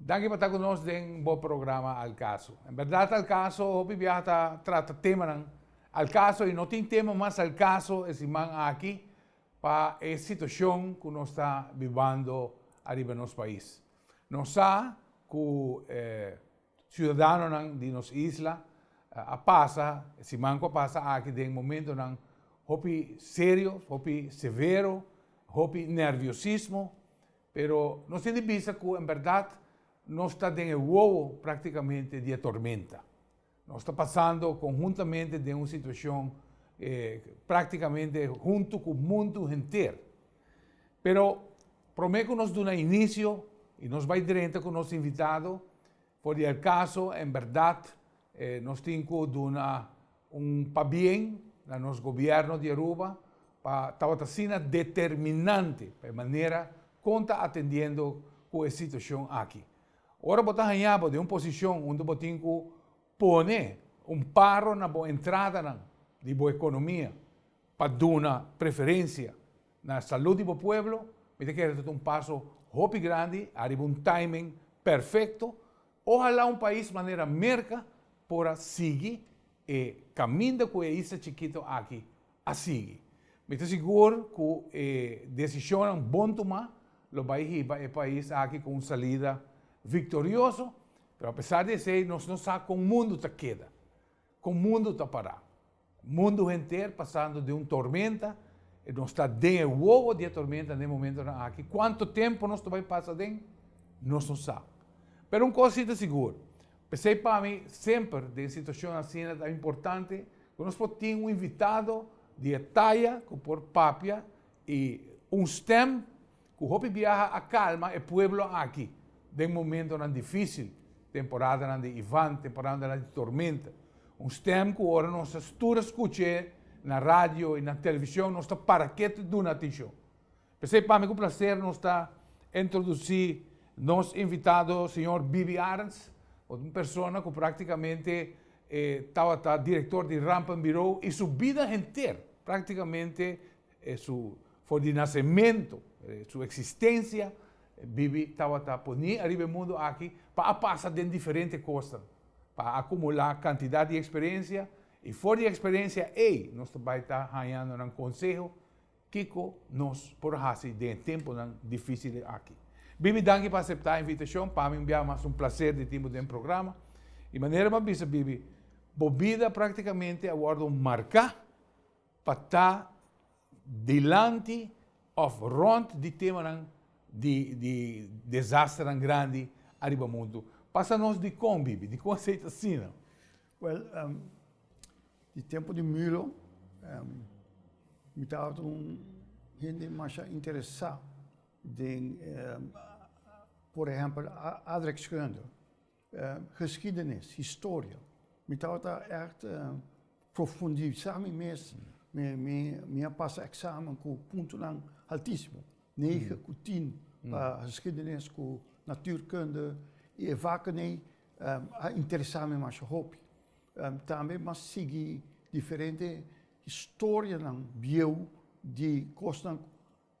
Danki pa ta ku nos den bo programa Al Caso. En berdad Al Caso hopi biaha ta trata temanan al caso i no tin tema mas al caso e siman aki pa e situashon ku nos ta bibando ariba nos pais. Nos sa ku e siudadanonan di nos isla a pasa e siman ku a pasa aki den momentunan hopi serio, hopi severo, hopi nerviosismo Pero nos tin di bisa ku en bèrdat nos ta den e wowo práktikamente di e tormenta. Nos ta pasando konhuntamente den un situashon práktikamente huntu ku mundu henter. Pero promé ku nos duna inisio i nos bai drenta ku nos invitado, For di el caso, en berdad nos tin cu duna un pabien na nos gobierno di Aruba pa tabata asina determinante pa e manera con ta atendiendo cu e situacion aki. Ora bo ta haña bo den un posicion unda bo tin cu pone un paro na bo entradanan di bo economia, Pa duna preferencia na salud di bo pueblo mi ta kere ta un paso hopi grandi ariba un timing perfecto. Ohala un pais manera Merca por a sigui e caminda cu e isla chikito aki a sigui. Mi ta sigur cu e decisionnan bon tuma lo bay hiba e pais aki cu un salida victorioso, pero apesar di esey nos no sa con mundo ta keda. Kon mundu ta pará? Mundu henter pasando den un tormenta, i nos ta den e wowo di e tormenta na e momentonan aki. Kuantu tempu nos ta bai pasa aden? Nos no sa. Pero un kos si ta sigur, p'esei pa mi semper den situashon asina ta importante ku nos por tin un invitado di e taya ku por papia i un stèm. Ku hopi biaha a kalma e pueblo aki den momentonan difísil, temporadanan di Ivan, temporadanan di tormenta. Un stèm ku ora nos ta stura skuch'é na radio i na televishon nos ta para ketu duna atenshon. P'esei pa mi ku plaser nos ta introdusí nos invitado señor Bibi Arends, un persona ku praktikamente e tabata direktor di Rampenbureau i su bida henter praktikamente, E su for di nasementu, e su eksistensia, e bibi tabata poní ariba e mundu aki pa a pasa den diferente kosnan, pa a akumulá kantidat di eksperensia, i for di eksperensia ei nos ta bai ta hañando nan konseho kiko nos por hasi den e tempunan difísil aki. Bibi danki pa aseptá e invitashon, pa mi bia mas un plaser di tin bo den programa, i manera bo a bisa bibi, bo bida praktikamente a wòrdu marká. pa ta dilanti of rond di temanan di di desasternan grandi ariba mundu. Pasa nos di con, Bibi? Di con asina ta sina? Well, ehm, di tempo di Mülo, ehm, mi tabata un hende masha interesa den, ehm, por ehempel, a-aardrijkskunde. Geschiedenis, historia. Mi tabata ècht profundisá mi mes. Mi a pasa eksamen ku puntonan altísimo, nege ku tin pa geschiedenis ku natuurkunde i e vakenei a interesá mi masha hopi. Tambe mi a sigui diferente historianan bieu di kosnan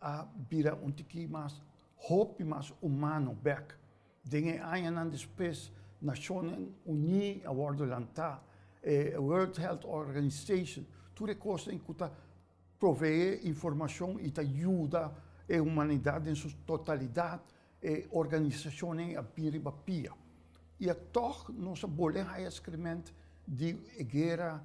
a bira un tiki mas hopi mas humano bek. Den e añanan despues Nacionen Uní a wordo lantá, e World Health Organization, tur e cosnan cu ta provee informacion y ta yuda e humanidad den su totalidad, e organizacionnan a bin riba pia. Y atoch nos a bolé haya excrement di e guera.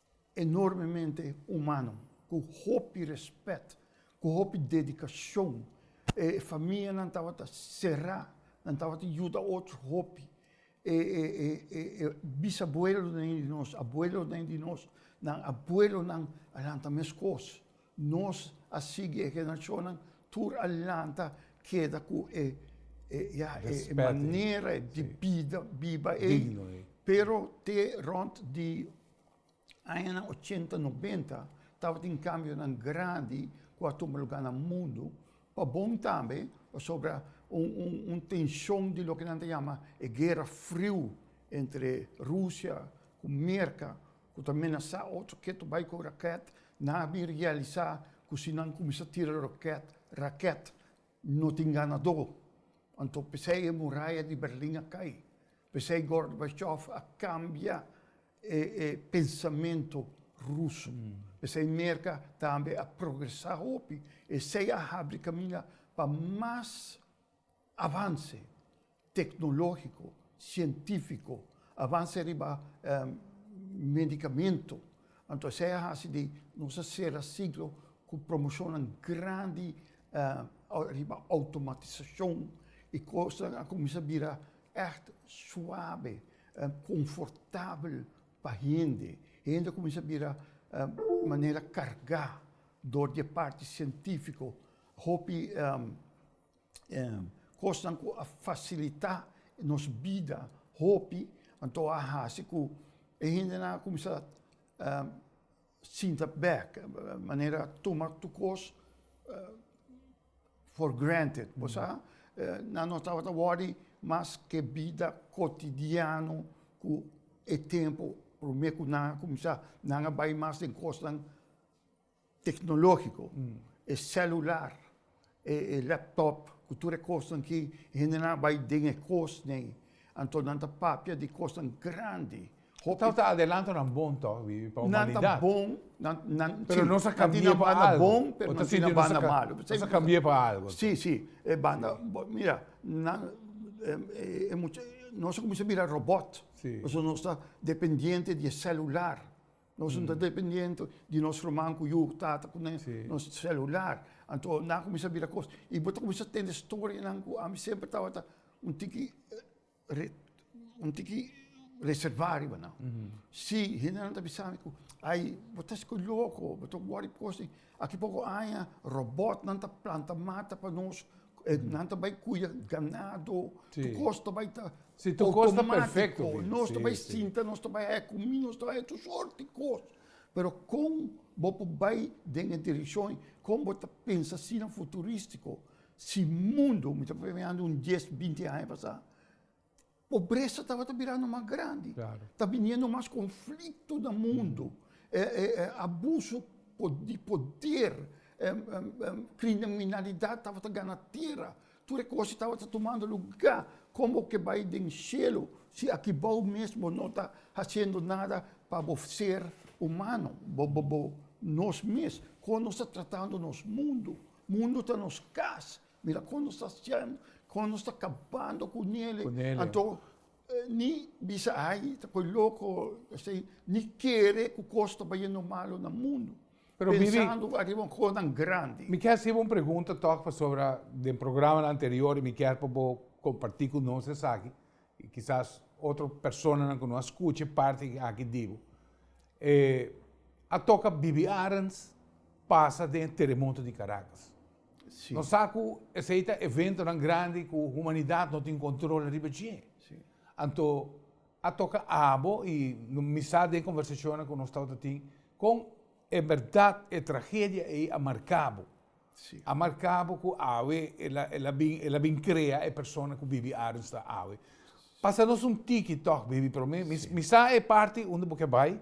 Enormemente humano, cu hopi respet, cu hopi dedicacion. E famianan tabata cera, nan tabata yuda ocho hopi. E e bisabuelonan di nos, abuelonan di nos, nan abuelonan a lanta mescos. Nos a sigui e generacionnan tur a lanta keda cu e manera di biba ey. Pero te rond di añanan ochenta, nobenta tabatin cambionan grandi cu a tuma lugar na mundo, pa bon tambe pasobra un tension di loke nan ta yama e guera friu entre Rusia cu Merca ku ta menasá otro ketu bai ku rakèt, nan a bin realisá ku si nan kuminsá tira rokèt, rakèt, no tin ganadó. Anto p'esei e muraya di Berlin a kai. P'esei Gorbachev a kambia e e pensamentu ruso. P'esei Merka tambe a progresá hopi. Esei a habri kaminda pa mas. Avanse teknologiko, sientifiko, avanse riba medikamentu, anto esei a hasi di nos a sera siglo ku promoshonnan grandi riba outomatisashon i kosnan a kuminsá bira ègt suabe, konfortabel pa hende. Hende a kuminsá bira manera kargá dor di e parti sientifiko. Hopi. kosnan ku a fasilitá nos bida hopi, anto a hasi ku e hendenan a kumsa sinta bek, manera tuma tur kos for granted, bo sa? Nan no tabata wòri mas ku e bida kotidiano ku e tempu promé ku nan a kumsa nan a bai mas den kosnan. Tecnologico, e celular, e laptop cu tur e cosnan ki hende nan a bay den e cosnan ey, anto nan ta papia di cosnan grandi. Hopi. Nan ta adelanto nan bon toch, Wiwi, pa humanidad. Nan ta bon, nan, nan, si. Pero nos a cambia pa algo. Nan tin a banda bon, pero nan tin a banda malo. Nos a cambia pa algo. Si, si, e banda, mira, nan, e mucha, nos a cuminsa bira robot. Si. Pasobra nos ta dependiente di e celular. Nos no ta dependiente di nos ruman cu yu, tata cu nen nos celular. Anto nan a cuminsa bira cos. Y bo ta cuminsa tende storienan cu ami semper tabata un tiki un tiki reserva ariba nan. Si, hendenan ta bisami cu ay, bo ta esco loco, bo ta wor di cosnan. Aki poko aña robotnan ta planta mata pa nos, nan ta bai kuida ganado, tur kos ta bai ta outomatiko, nos ta bai sinta, nos ta bai haña kumí, nos ta bai haña tur sort di kos. Pero kon bo por bai den e direkshon, kon bo ta pensa asina futuristiko, si mundu, mi ta pone un dies, binti aña pasá. Pobresa tabata birando mas grandi, ta biniendo mas conflicto na mundo, abuso di poder, criminalidad tabata gana tierra, tur e cosnan tabata tumando lugar, con bo ke bay den cielo si akibao mes bo no ta haciendo nada pa bo ser humano, nos mes, con nos ta tratando nos mundo, mundo ta nos cas. Mira kon nos ta hasiendo, kon nos ta kabando ku Nelio, anto ni bisa ai ta koi loko esei, ni kere ku kos ta bayendo malo na mundu, pensando ariba un kosnan grandi. Mi ke hasibo un pregunta tòg, pasobra den programanan anterior mi kier pa bo komparti ku nos esaki, i kisas otro personanan ku no a skucha e parti aki di bo. E a toka bibi arens pasa den e teremoto di Karakas. Nos sa cu esey ta eventonan grandi cu humanidad no tin control riba dje. Anto a toca abo y mi sa den conversacionnan cu nos tabata tin con en berdad e tragedia ey a marca bo. A marca bo cu awe el a bin, el a bin crea e persona cu bibi Arens ta awe. Pasa nos un tiki toch baby pero mi sa e parti unda bo ke bay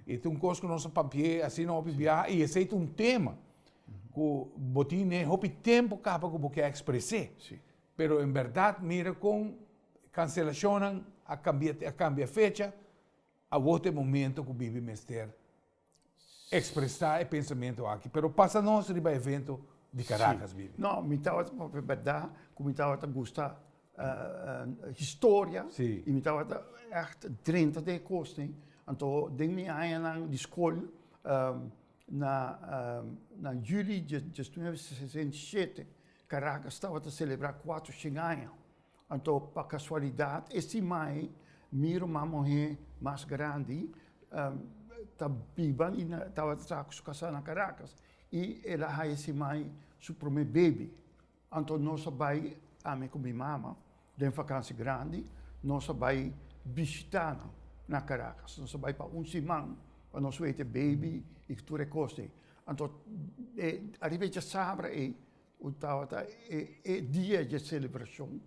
y ta un cos cu nos a papia asina hopi biaha y esey ta un tema. ku bo tin e hopi tempu kaba ku bo ke ekspres'é. Pero en bèrdat mira kon kanselashonnan a kambia a kambia fecha, awor ta e momento ku bibi mester ekspresá e pensamentu aki. Pero pasa nos riba e evento di Karakas, bibi. No, mi tabata, pa falar e bèrdat, ku mi tabata gusta. historia y mi tabata echt drenta den e cosnan. Anto den mi añanan di scol, na juli diesnuebe sesenta i shete, Caracas tabata celebra cuatro shin aña. Anto pa casualidad e sima ei mi ruman muhe mas grandi ta biba y tabata traha cu su casa na Caracas y el a haya e sima ei su prome baby. Anto nos a bai, ami ku mi mama, den vakansi grandi, nos a bai bishitá nan na Karakas. Nos a bai pa un siman pa nos wete e beibi i tur e kos ei. Anto e ariba e djasabra ei ku tabata e e dia dje selebrashon,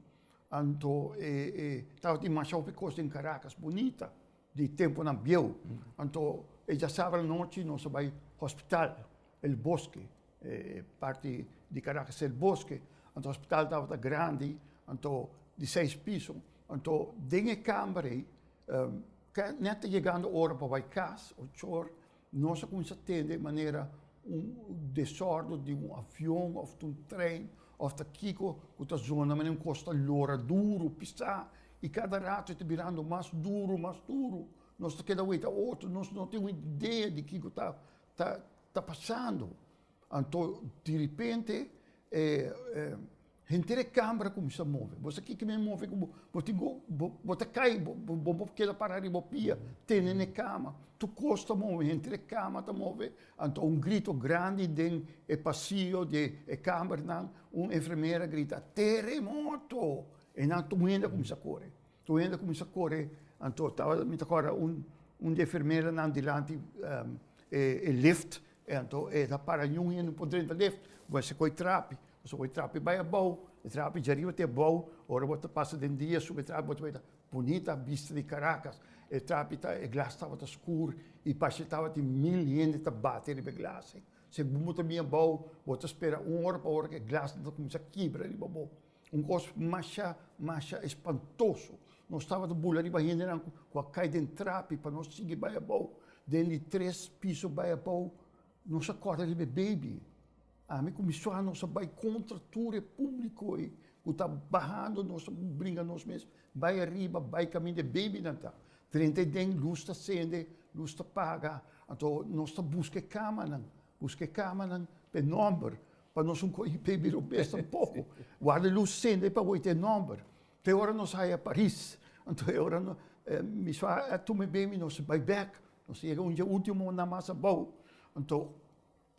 anto e e tabata dimashau e kos den Karakas bunita di tempunan bieu. Anto e djasabra nochi nos a bai hospital El Bosque. E parti di Caracas ta el bosque, anto hospital tabata grandi, anto di seis piso, anto den e camber ey net ta yegando ora pa bay cas, ochor, nos a cuminsa tende e manera un desordo di un avion of di un tren of ta kico cu ta zona manera un cos ta lora duro, pisa, y cada rato e ta birando mas duro, mas duro, nos ta keda weta otro, nos no tin un idea di kico ta. Ta ta pasando. Anto direpente e e henter e kambra kuminsá move, bo sa kiko men move ku bo, bo tin ku bo ta kai bo bo bo keda para riba pia tene n'e kama, tu kos ta move henter e kama ta move, anto un grito grandi den e pasillo di e kambernan, un enfermera a grita, teremoto! E nan tume hende a kuminsá kore. Tur hende kuminsá kore, anto tabata mi ta kòrda un un di e enfermeranan dilanti e lift, e anto e ta para ñun hende no por drenta lift, bo esta koi trapi, bo esta koi trapi bai abou, e trapi djariba te abou, ora bo ta pasa den dia sube trapi bo ta wea bunita bista di Caracas, e trapi ta e glas tabata skur i parse tabatin mil hende ta bati riba e glasi, segun bo ta bin abou bo ta spera un ora pa ora ku e glas nan ta kuminsá kibra riba bo. Un kos masha masha espantoso. Nos tabata bula riba hendenan ku a kai den trapi pa nos sigui bai abou. Den di tres piso bai abou nos a kòrda riba e beibi. Ami ku mi suaha nos a bai kontra tur e públiko ei ku ta bahando, nos a bringa nos mes bai ariba, bai kaminda e beibinan ta drenta ei den, lus ta sende, lus ta paga. Anto nos ta buska e kamanan, buska e kamanan pa e nòmber, Pa nos un koe IP bira besta un poko. Warda lus sende pa wete e nòmber. Ta e ora nos a haña Paris. Anto e ora mi sua a tuma e bemi nos a bai bèk. Nos a yega un dje último na mas abou. Anto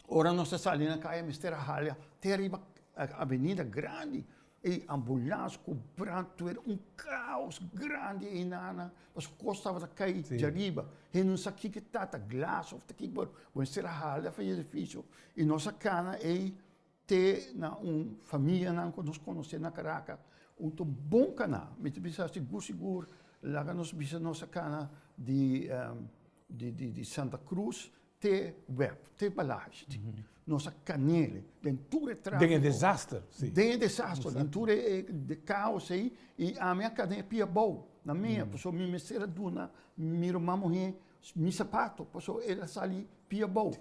ora nos ta sali na kaya mester a haña te ariba avenida grandi. E ambulans ku brandwer un kaos grandi einanan pasobra kos tabata kai djariba. Hende no sa kiko ta, ta glas of ta kiko, pero bo a mester a hala fu e edifisio i nos a kana ei te na un famianan ku nos konosé na Karakas, ku ta un bon kaná. Mi ta bisa sigur, sigur laga nos bisa nos a kana di di Santa Krus Te web, te balaj di nos a kanele den tur e trafiko. Den e desaster, si. Den e desaster, den tur e kaos ei, i ami a kada e pia abou na mea, pasobra mi mester a duna mi ruman muhé mi sapato, pasobra el a sali pia abou.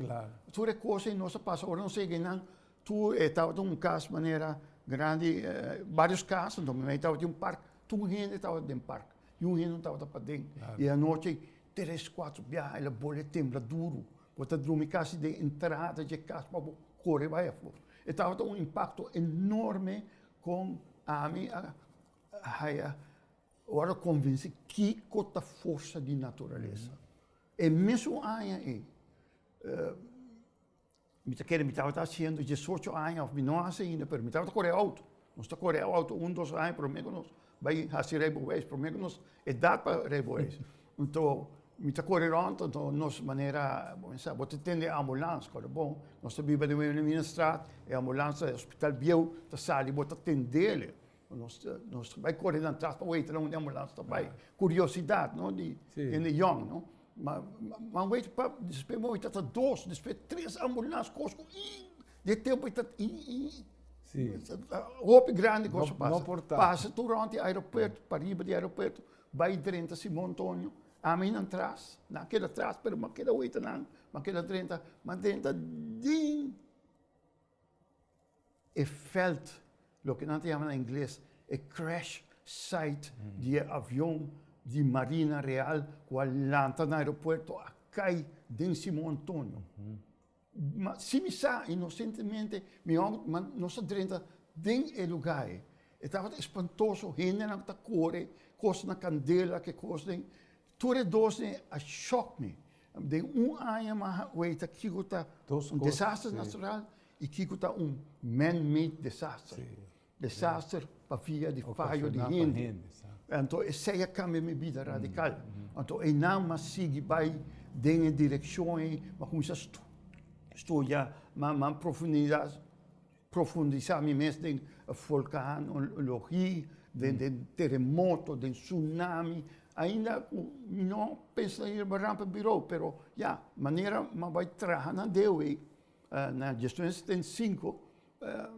Tur e kos ei nos a pasa, ora nos a yega ei nan Tur e tabata un cas manera grandi varios cas anto mi mei tabata den un park tur un hende tabata den park y un hende no tabata paden y anochi tres cuatro biaha ela bole tembla duro bo ta drumi casi den entrada dje cas pa bo core bay afo e tabata un impacto enorme con ami a haya ora convinci kico ta forsa di naturalesa e mesun aña ey Mi ta kere mi tabata hasiendo diesocho aña of mi no hasi ainda pero mi tabata kore outo. Nos ta kore outo un dos aña promé ku nos bai hasi reiboweis, promé ku nos edat pa reiboweis. Anto mi ta kore rònt, anto nos manera bo mensha bo ta tende e ambulans, kòrda bon nos ta biba den Weniminenstraat, e ambulans ta e hospital bieu ta sali bo ta tendele. Nos ta nos ta bai kore nan tras pa weta loke ambulans ta bai, kuriosidat no di hende yòn no, ma ma weta pap despe momen ta ta dos despe tres ambulans kos ku ii di e tempu ta ii hopi grandi kos a pasa, pasa tur rònt di aeropuerto pariba di aeropuerto bai drenta simon antonio ami nan tras nan keda tras pero mi a keda weta nan mi a keda drenta mi a drenta ding. e veld, loke nan ta yama na ingles e crash site di e avion di Marina Real ku a lanta na aeropuerto a kai den Simo Antonio. Ma si mi sa, inosentemente, mi houd man nos a drenta den e luga ei. E tabata espantoso, hendenan ta kore, kos na kandela, ke kosnan. Tur e dos dje a shock mi. Den un aña mi a weta kiko ta un desaster natural y kiko ta un man-made desaster. Desaster pa via di fayo di hende. Anto esey a cambia mi bida radical. Anto eynan mi a sigui bay den e direccion ey. Mi a cuminsa studia mas a profundidad. Profundisá mi mes den volkano, logi, den teremoto, den tsunami. Ainda ku mi no pensa ta yirba rampa birou, pero ya, manera m'an bai traha na Deo ei, na Gestión e Setenta i Sinku,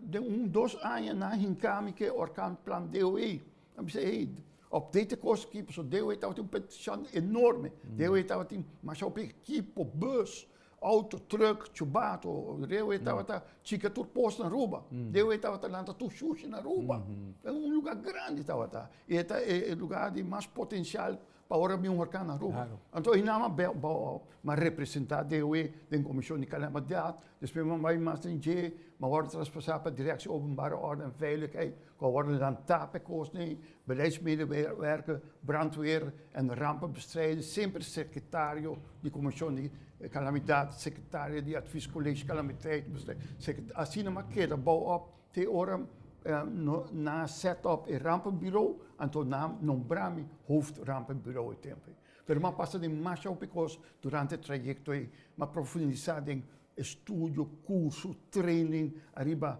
den un dos aña nan a hinká mi ku e orkan Plan Deo ei. Nan bisa, ei, update e kos aki, pasobra Deo ei tabatin un pentishan enorme. Deo ei tabatin mashau p'e ekipo, bus, Auto, truck, chubato, dewe tabata chika tur pos na Aruba. Dewe tabata lanta tur shushi na Aruba. E un luga grandi tabata. I e ta e luga di mas potensial pa ora bin un hurkan na Aruba. Anto e nama a representa dewe den komishon di kalamidat, despues bo a bai mas den dje, bo a wòrdu traspasá pa direkshon openbare órden en veiligheid. Gobernanan tap e kosnan, beleidsmedewerker, brandweer en rampenbestrijding, semper sekretario di komishon di kalamidat, sekretario di advis kolesje kalamiteitbestrijding, sekretario, asina mas keda bou op te ora nan a set op e rampenbirou, anto nan a nombra mi hoofd rampenbirou e tempo ei. Pero mi a pasa den masha hopi kos durante e trayekto ei, mi a profundisa den Estudio, kurso, training ariba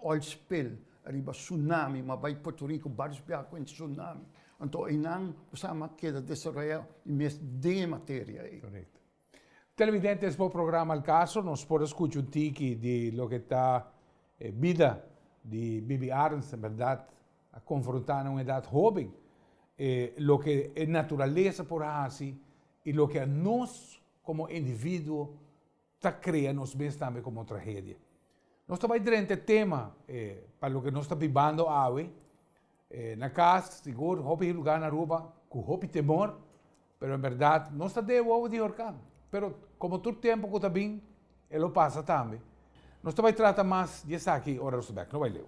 oil spill, ariba tsunami, ma bai Puerto Rico, Barrios Biaha kuenta tsunami. Anto einan bo sa ma keda desaroyá e mes den e materia ei. Korekto. Televidentes, bo programa El Caso, nos por a skucha un tiki di loke ta e bida di Bibi Arns, en berdad a konfrontá na un edat hoben, e loke e naturalesa por hasi i loke anos Komo individuo ta krea nos mes tambe komo tragedia. Nos ta bai drenta tema e pa loke nos ta bibando awe. E na kas, sigur, hopi lugar na Aruba ku hopi temor, pero en bèrdat nos ta dei wowo di horká. Pero komo tur tempu ku ta bin e lo pasa tambe. Nos ta bai trata mas di esaki ora nos ta bèk. No bai leu.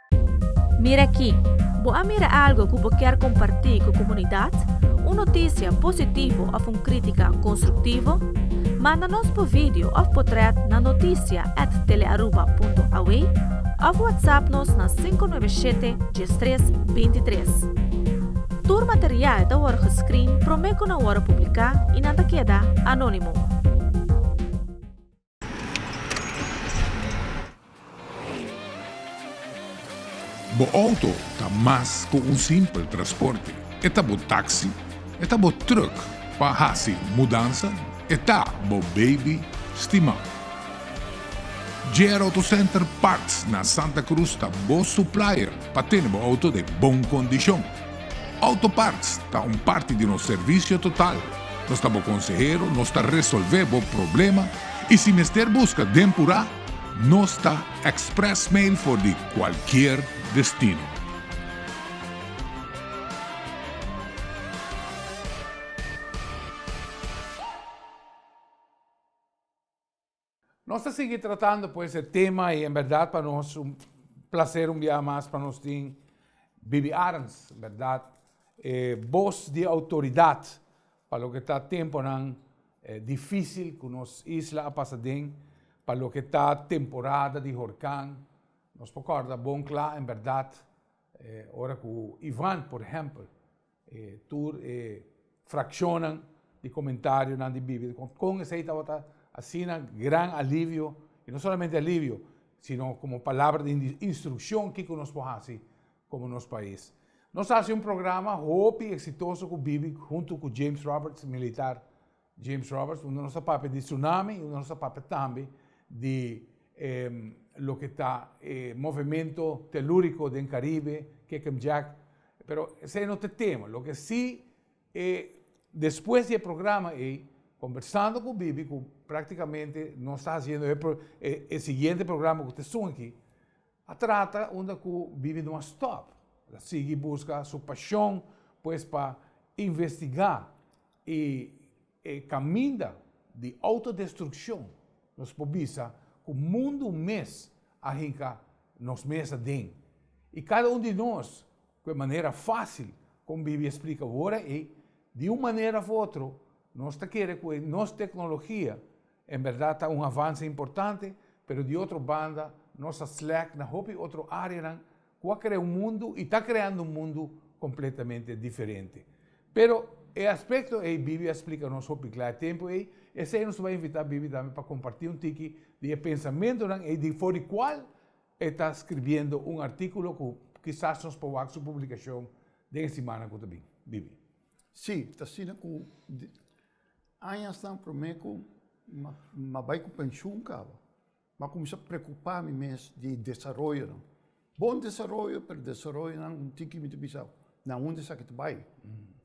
Mira aki, Bo a mira algo ku bo ker kompartí ku komunidat? Un notisia positivo òf un krítika konstruktivo? Manda nos bo video òf potrèt na notisia at telearuba.aw òf whatsapp nos na sinku nuebe shete dies tres binti tres. Tur material ta wòrdu geskrin promé ku nan wòrdu publiká i nan ta keda anónimo. Bo outo ta mas ku un simpel trasporte. E ta bo taksi, e ta bo trùk pa hasi mudansa, e ta bo beibi stimá. JR Auto Center Parts na Santa Cruz ta bo suplaier pa tene bo outo den bon kondishon. Auto Parts ta un parti di nos servisio total. Nos ta bo konsehero, nos ta resolvé bo problema i si mester buska den purá, nos ta express mail for di kualkier destino. Nos ta sigui tratando pues e tema y en berdad pa nos un placer un bia mas pa nos tin Bibi Arns, berdad e bos di autoridad pa loke ta temponan dificil cu nos isla a pasa den, pa loke ta temporada di horcan, nos por corda bon cla en berdad ora cu Ivan por ehempel. E tur e fraccionnan di comentarionan di Biblia di con con esey tabata asina gran alivio, y no solamente alivio, sino como palabra di instruccion kico nos por haci como nos pais. Nos a haci un programa hopi exitoso cu Bibi hunto cu James Roberts, militar, James Roberts, Unda nos ta papia di tsunami, unda nos ta papia tambe di e loke ta e movemento teluriko den Karibe, Kekem Jack, pero esei no ta e tema. Loke si e despues di e programa ei, kombersando ku Bibi, ku praktikamente nos ta hasiendo e e siguiente programa ku ta esun aki, a trata unda ku Bibi no a stòp, el a sigui buska su pashon pues pa investigá E caminda di autodestruccion nos por bisa cu mundu mes a hinca nos mes aden, y cada un di nos cu e manera facil con Biblia explica ora ey, di un manera of otro nos ta kere cu e nos tecnologia En berdad ta un avance importante, pero di otro banda nos a slack na hopi otro areanan cu a crea un mundu y ta creando un mundu completamente diferente. Pero e aspecto ey Biblia a splica nos hopi cla e tempo ey, esey nos tabata invita Biblia tambe pa comparti un tiki di e pensamentonan ey di for di cual e ta scribiendo un articulo cu kisas nos por wak su publicacion den e simannan cu ta bin. Bibi. Sí, ta asina cu. Añasnan promé ku m'a bai ku penshun kaba, m'a kuminsá preokupá mi mes di desaroyonan. Bon desaroyo, pero desaroyonan bo tin ku mi ta bisa na unda esaki ta bai?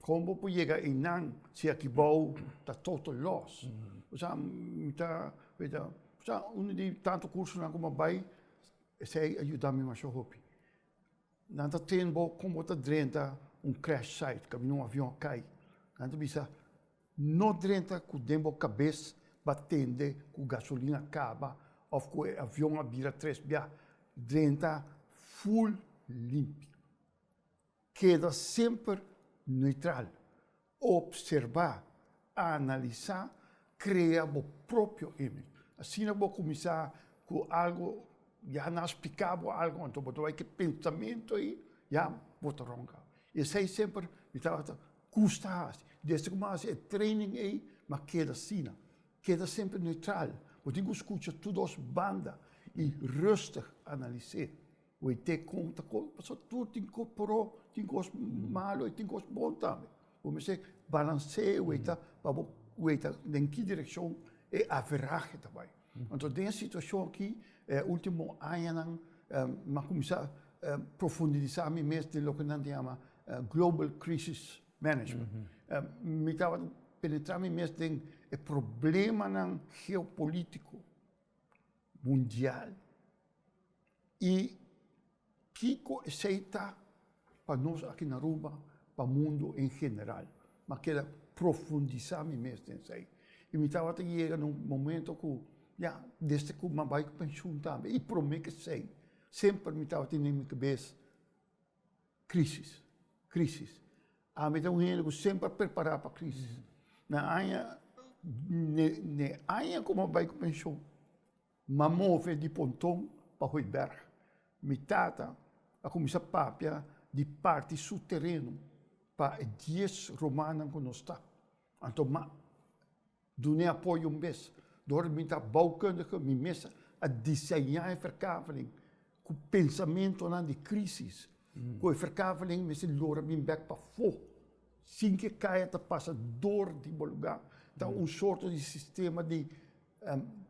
Kon bo por yega einan si e kibou ta total lòs? Osea, mi ta bira, osea unu di tantu kursonan ku m'a bai, esei a yuda mi masha hopi. Nan ta train bo kon bo ta drenta un crash site, kaminda un avion a kai. Nan ta bisa, No drenta ku den bo kabes bo a tende ku gasolin a kaba òf ku e avion a bira tres biaha. Drenta ful limpio. Keda semper neutral. Obserba, analisa, krea bo propio image. Asina bo kuminsá ku algu, ya nan a spliká bo algu, anto bo ta bai ku e pensamentu ei, ya bo ta rònka. Esei semper mi tabata gusta hasi. Desde ku mi a hasi e training ei, mi a keda asina, keda semper neutral. Bo tin ku skucha tur dos banda i rustig analis'é. Ui te conta con paso tur tin cos pro tin cos malo y tin cos bon tambe como mi se balancee ue ta pa bo ue ta den ki direccion e averaje ta bay entonces den e situacion aki e ultimo añanan mi a cuminsa profundisa mi mes den loke nan ta yama global crisis management mi tabata penetra mi mes den e problemanan geopolitico mundial. y kico esey ta pa nos aki na Aruba, pa mundo en general. M'a keda profundisa mi mes den esey. Y mi tabata yega na un momento cu ya, desde cu m'a bay pensioen tambe, y prome kesey, semper mi tabata tene den mi cabes crisis, crisis. A mi ta un hende cu semper a prepara pa crisis. Na aña, n'e aña cu m'a bay cu pensioen. M'a move di ponton pa Hooiberg. Mi tata a kuminsá papia di parti su tereno pa e dies romanan ku nos ta. Anto m'a dun'é apoyo un bes. Dor mi ta boukundige mi mes a diseñá e ferkaveling ku pensamentonan di krísis ku e ferkaveling mester lora bin bèk pafó sin ke kaya ta pasa dor di bo lugá. Ta un sorto di sistema di.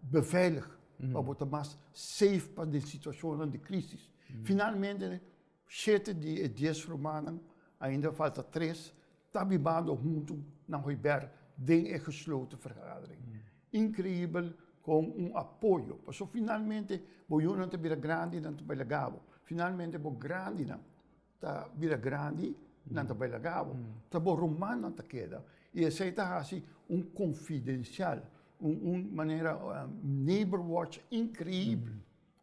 beveilig, pa bo ta mas safe pa den situacionnan di crisis. Finalmente, shete di e dies rumannan, ainda falta tres, ta bibando huntu na Hoiberg den e gesloten vergadering. Increibel con un apoyo, pasobra finalmente bo yunan ta bira grandinan ta bay lagabo, finalmente bo grandinan. ta bira grandi, nan ta bai laga awa. Ta bo ruman nan ta keda. I esei ta hasi un konfidensial, un, un manera neighbor watch inkreibel.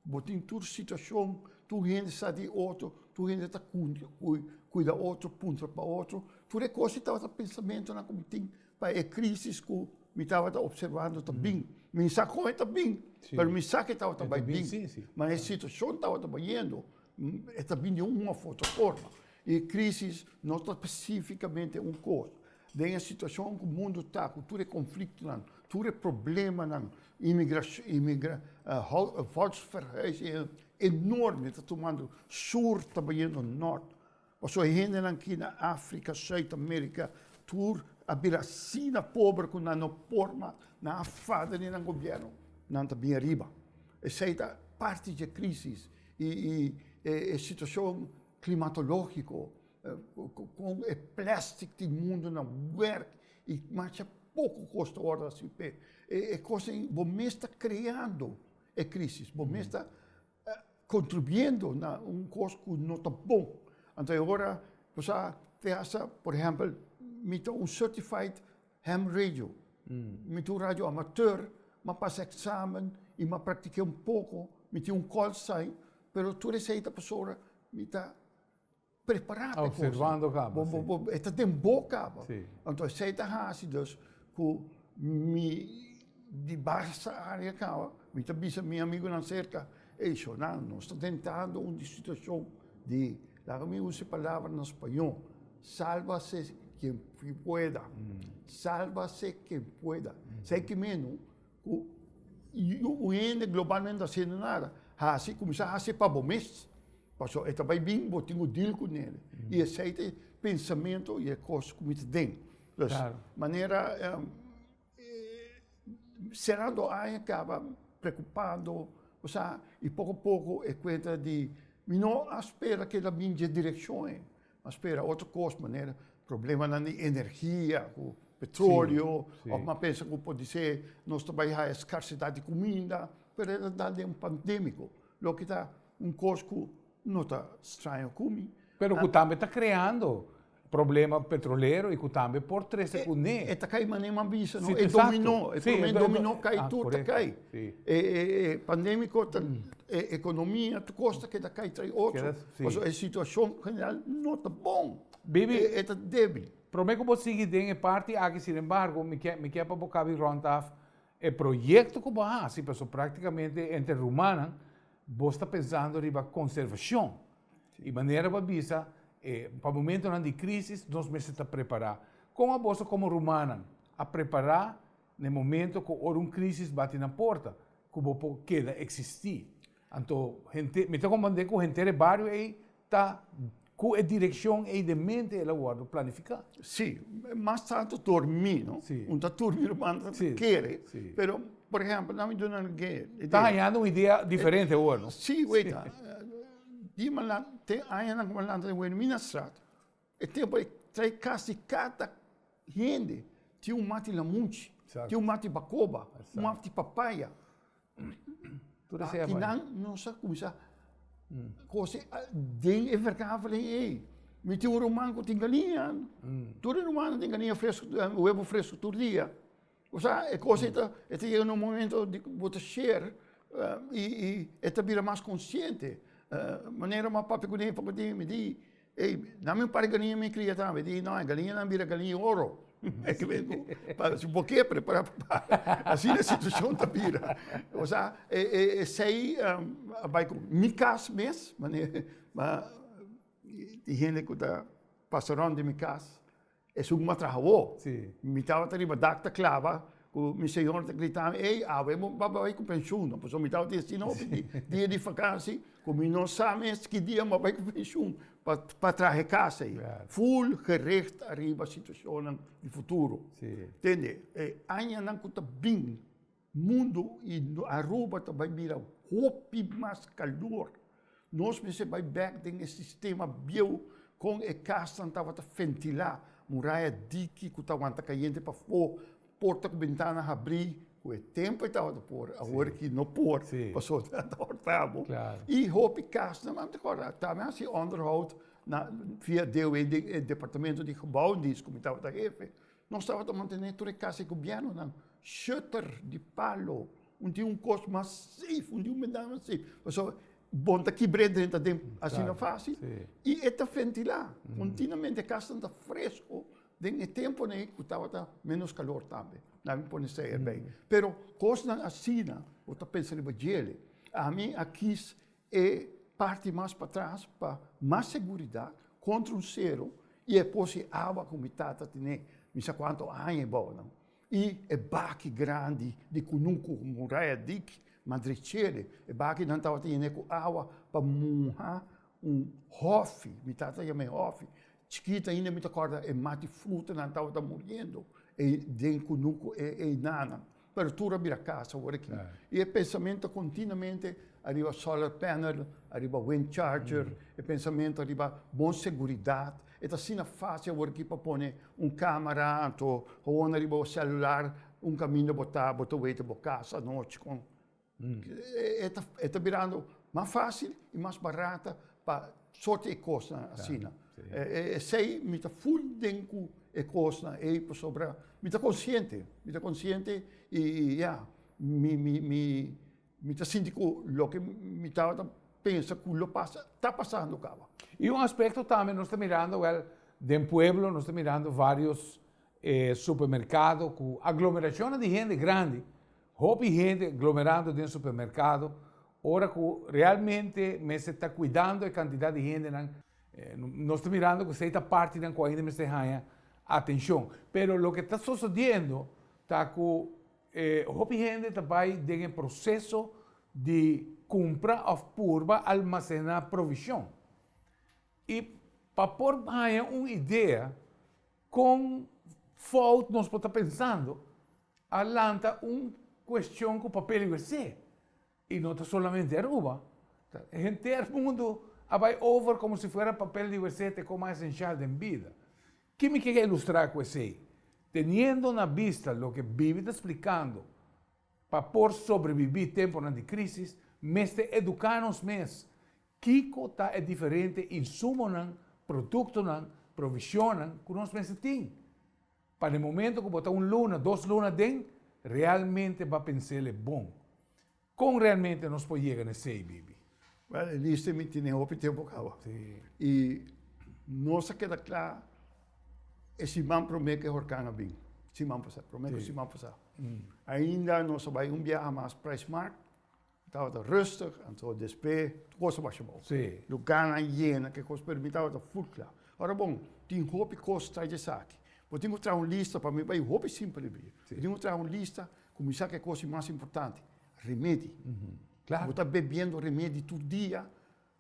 Bo tin tur situashon, tur hende sa di otro, tur hende ta kuida otro, puntra pa otro. Tur e kos ei tabata pensamentunan ku mi tin pa e krisis ku mi tabata opservando ta bin. Mi sa kon e ta bin, pero mi sa ke tabata bai bin, ma e situashon tabata bayendo. E ta bini un òf otro forma. E krísis no ta spesífikamente un kos. Den e situashon ku mundu ta, ku tur e konfliktonan, tur e problemanan, volksverhuizing enorme ta tumando, Sur ta bayendo Nort. Pasobra e hendenan aki na Africa, Suid America, tur a bira asina pober cu nan no por mas, nan a fada di nan gobierno. Nan ta bin ariba. Esey ta parti dje crisis y e situacion climatologico con e plastic tin mundo na werk y masha poco cos ta wordo hasi p'e cos ey bo mes ta creando e crisis, bo mes ta. Contribuyendo na un cos cu no ta bon. Anto e ora bo sa piensa, por ehempel, mi ta un certified ham radio, mi ta un radio amateur, mi a pasa examen y mi a practiqué un poco, mi tin un call sign, pero tur esey ta pasobra mi ta. prepará pe kosa. Bo, bo, bo, e ta den bo kaba. Sí. Anto esei ta hasi dus ku mi di basta área kaba, mi ta bisa mi amigunan serka, ey Shonan, nos ta dentando un di situashon di, laga mi usa e palabra na spañó, sálbase kien pueda, sálbase kien pueda. Seiki meno Ku un hende globalmente no a hasiendo nada, hasi, kuminsá hasi pa bo mes, pasobra e ta bai bin bo tin ku dil ku nel. I esei ta e pensamentu i e kos ku mi ta den. Pues, manera serando aña kaba preokupando, ku sa, i poko a poko e kuenta di mi no a spera ku e ta bin dje direkshon ei. A spera otro cos manera problemanan di energia cu petroleo of m'a pensa cu por disé nos ta bay haya scarcidad di cuminda pero e ta dal den un pandemico loke ta un cos cu no ta straña cumi. Pero cu tambe ta creando problema petrolero y cu tambe por trece cu ne. E ta cay manera m'a bisa no e dominó e prome dominó cay tur ta cay. Sí. E, e, e pandémiko ta e ekonomia, tur kos ta keda kai tra e otro. Keda, sí. Pasobra e situashon general no ta bon. Bibi. E, e ta débil. Promé ku bo sigui den e parti aki, sinembargo, mi ke, mi ke pa bo kabi rònt af e proyekto ku bo hasi, pasobra práktikamente entre rumannan bos ta pensando riba konservashon. I manera bo a bisa, e, pa momentunan di krísis nos mester ta prepará. Kon abos a komo rumannan a prepará? Na e momento ku ora un krisis bati na porta, ku bo por keda eksistí. Anto henter, mi ta komprendé ku henter e bario ei ta ku e direkshon ei den mente, el a wòrdu planifiká. Sí, mas tantu dormí, no? Sí. Un ta durmi riba nan ta kere. Sí, sí. Pero, por ehèmpel, dami duna nan ke idea. Ta hañando un idea diferente awor, no? Sí, wei ta. Dima nan, te añanan ku mi a lanta den Wenu, mi na strato. E tempu e trai kasi kata hende. Tin un mati lamunchi, tin un mati bakoba, un mati papaya. Akinan nos a kuminsá kose den e verkaveling ei. Mi tin un ruman ku tin galiña, tur e rumannan tin galiña fresku, webo fresku tur dia. Osea e cosa ei ta e ta yega na un momento di bo ta sher y y e ta bira mas consciente manera ma papia ku den papia ku den mi di ey dame un par galiña mi cria tambe mi di no e galiñanan bira galiña oro si bo ke prepara papá asina e situacion ta bira osea e e esey a bay ku mi cas mes manera tin hende ku ta pasa rond di mi cas. Es un matrahawo. Mi tabata riba dak ta klaba ku mi señor ta gritan, ey, awe bo a bai ku penshun no. Pasobra mi tabata yachin hopi di dia di vakansi ku mi no sa mes ki dia mi a bai ku penshun pa traha e kas ei. Ful gericht ariba situashonnan di futuro. Tende? E añanan ku ta bin. Mundu y Aruba ta bay bira hopi mas calor. Nos mester bay bek den e sistema bieu con e casnan tabata fentilá, muraya diki cu ta wanta cayente pafó, porta cu bentana habrí, cu e tempo e tabata por, awor ki no por pasobra ta wanta hortabo. Y hopi casnan nan ta cora, ta men haci onderhoud na, via DOW, den e departamento di gebouwdienst cu mi tabata hefe. Nos tabata mantené tur e kas e gobièrnunan shutter di palo, un di un kos mas seif, un di un bendana mas seif, pasobra bo bon ta kibr'é drenta den asina fásil i e ta fentilá kontinuamente, e kasnan ta fresko den e temponan ei ku tabata ménos kalor tambe, nan a pone seia bei. Pero kosnan asina bo ta pensa riba djele, ami a kis E parti mas patras pa mas seguridat kontra un sero i e posi awa ku mi tata tene mi sa kuantu aña i bou nan i e baki grandi di kunuku muraya dik madrechele e baki nan tabata yené ku awa pa muha un hòfi mi tata yama e hòfi chikit ainda mi ta kòrda e mati fruta nan tabata muriendo den kunuku e einan nan Pero tur a bira cas awor aki. Y e pensamento continuamente ariba solar panel, ariba wind charger, e pensamento ariba bon seguridad. E ta asina faci awor aki pa pone un camara anto, hoon ariba bo celular, un caminda bo ta, bo ta wete bo cas anochi con. E ta birando mas fácil y mas barata pa sorti e cosnan asina. Esey mi ta full den cu e cosnan ey pasobra mi ta consciente, mi ta consciente y ya, mi ta sinti cu loke mi tabata pensa cu lo pasa, ta pasando caba. Y un aspecto tambe nos ta mirando wel, den pueblo nos ta mirando varios supermercado cu aglomeracionnan di hende grandi, Hopi hende glomerando den supermerkado ora ku realmente mester ta kuidando e kantidat di hendenan. Nos ta mirando ku esei ta partinan ku ainda mester haña atenshon. Pero loke ta sosodiendo ta ku hopi hende ta bai den e proseso di kumpra òf purba almasená provishon. I pa por haña un idea. Kon fout nos por ta pensando a lanta un kuestion ku papel i wc? I no ta solamente Aruba, ta henter mundu a bai over komo si fuera papel di wc ta e kos mas esensial den bida. Ke mi kere ilustrá ku esei? Teniendo na bista loke Biblia ta splikando pa por sobrebibí tempunan di krísis, mester eduká nos mes. Kiko ta e diferente insumonan, produktonan, provisionnan ku nos mester tin? Pa den momento ku bo ta un luna, dos luna den, realmente bo a pensel e bon. Kon realmente nos por yega na esei, Bibi? Wèl, e lista ei mi tene hopi tempu kawa. I nos a keda kla e siman promé ku e horkan a bin, siman pasá, promé ku siman pasá. Ainda nos a bai un biaha mas, Prijsmaart. Tabata rustig, anto despe tur cos a basha bow. Sí. Lugarnan a yena, ke cos pero mi tabata full cla. Ora bon, tin hopi cos tras di esaki. Bo tin cu traha un lista, pa mi bay hopi simpel di bira. Sí. Bo tin cu traha un lista, cuminsa ke cos tin mas importante, remedi. Claro. Bo ta bebiendo remedi tur dia,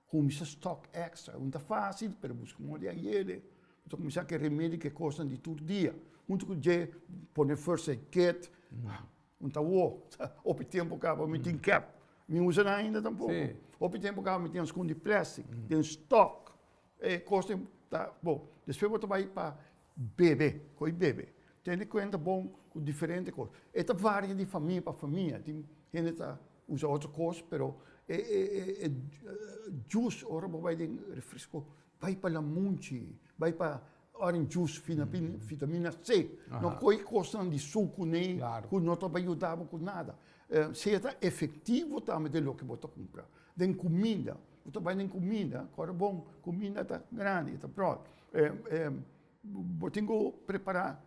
Cuminsa stock extra. Un ta facil pero busca un orde ayede. Bo ta cuminsa cu e remedi cu e cosnan di tur dia. Hunto cu dje pone first aid kit. Un ta wo. Hopi tempo caba mi tin cap. Mi usa nan ainda tampoco. Hopi tempo caba mi tin ascundi plastic den stock. E cosnan ta bon. Despues bo ta bay pa bebe. Cu e bebe. Tene en cuenta bon cu diferente cos. E ta varia di famia pa famia. Tin hende ta Usa otro cos pero e e juice ora bo bai den refresco bai pa lamunchi bai pa orange juice vitamina c no coge cosnan di sucu nee cu no ta bay yuda bo cu nada sea ta efectivo tambe den loke bo ta cumpra den cuminda bo ta bay den cuminda ora bon cuminda ta grandi ta broad bo tin cu prepara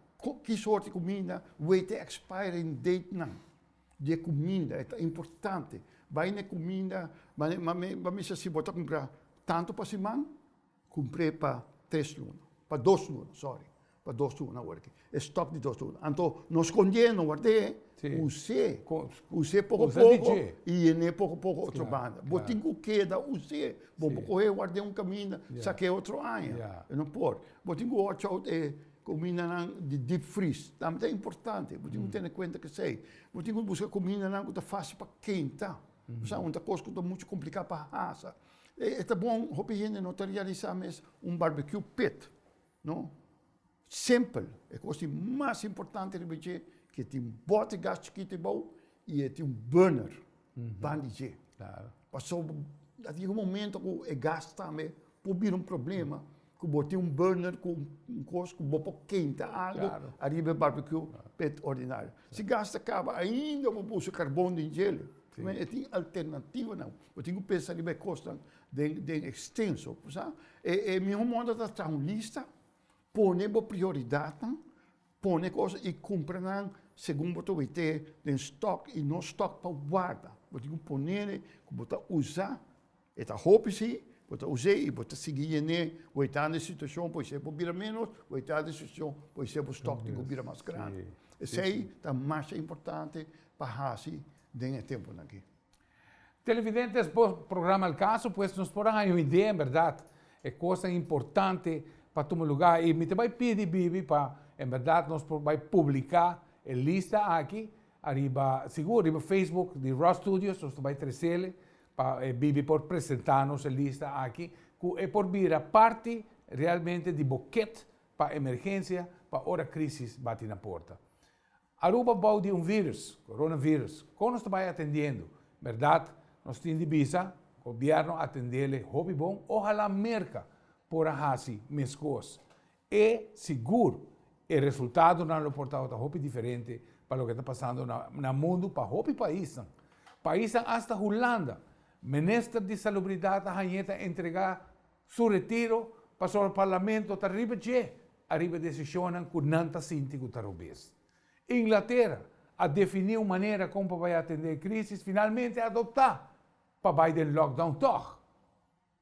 ki soort di cuminda wete expiring date nan. di e kuminda, e ta importante. Bai na e kuminda, mane, mame, mame mester si bo ta kumpra tantu pa siman, kumpr'e pa tres luna, pa dos luna, sòri, pa dos luna awor aki, e stòk di dos luna. Anto no skond'é, no ward'é, us'é, us'é poko poko i yen'é poko poko otro banda. Bo tin ku keda us'é, bo bo kohe ward'é un kaminda, sak'é otro aña, no por. Bo tin ku wòch out e. Kumindanan di deep freeze tambe ta importante. Bo tin ku tene kuenta k'esei. Bo tin ku buska kumindanan ku ta fásil pa kenta. Esa un ta kos ku ta muchu kompliká pa hasa. E ta bon, hopi hende no ta realisá mes un barbecue pit, no? Simpel, e kos di mas importante riba dje ku e tin bòt gas chikitu ibou i e tin un burner ban di dje. Pasobra a yega un momento ku e gas tambe Por bira un problema cu bo tin un burner cu un cos cu bo por kenta algo ariba e barbecue pa e ta ordinario. Si gas ta caba ainda bo por usa carbon den djel. E tin alternativanan. Bo tin cu pensa riba e cosnan den extenso. Bo sa? E miho moda ta traha un lista, pone bo prioridadnan, pone cos y cumpra nan segun bo ta wey t'e den stock y no stock pa warda. Bo tin cu pone cu bo ta usa. E ta hopi si, bo ta us'é i bo ta sigui yen'é wen ta den situashon por esei bo bira ménos, wen ta den situashon por esei bo stòk tin ku bira mas grandi. Esei ta masha importante pa hasi den e tempunan akí. Televidentes, bo programa El Caso, pues nos por a haña un idea, en bèrdat, e kosnan importante pa tuma lugá. I mi ta bai pidi bibi pa en bèrdat nos por bai publiká e lista aki ariba, sigur, riba facebook di Rus Studios, nos ta bai tresele Pa e bibi por presenta nos e lista aki cu e por bira parti realmente di bo kit pa emergencia pa ora crisis bati na porta. Aruba bao di un virus, coronavirus, con nos ta bay atendiendo? Berdad, nos tin di bisa, gobierno atendele hopi bon, ohala Merca por a haci mescos. E sigur, e resultadonan lo por tabata hopi diferente pa loke ta pasando na mundu pa hopi paisnan. Paisnan hasta Hulanda, Minister di Salubridat a hañ'é ta entrega su retiro pasobra e parlamento ta riba dje ariba e decisionnan cu nan ta sinti cu ta robes. Inglatera a defini un manera con pa bay atende e crisis, finalmente a adopta pa bay den lockdown tog.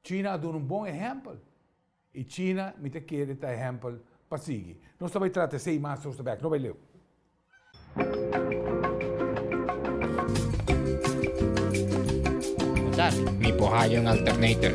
China a duna un bon ehèmpel i China mi ta kere ta ehèmpel pa sigui. Nos ta bai trata esei mas nos ta bèk. No bai leu. Mi por haña un alternator.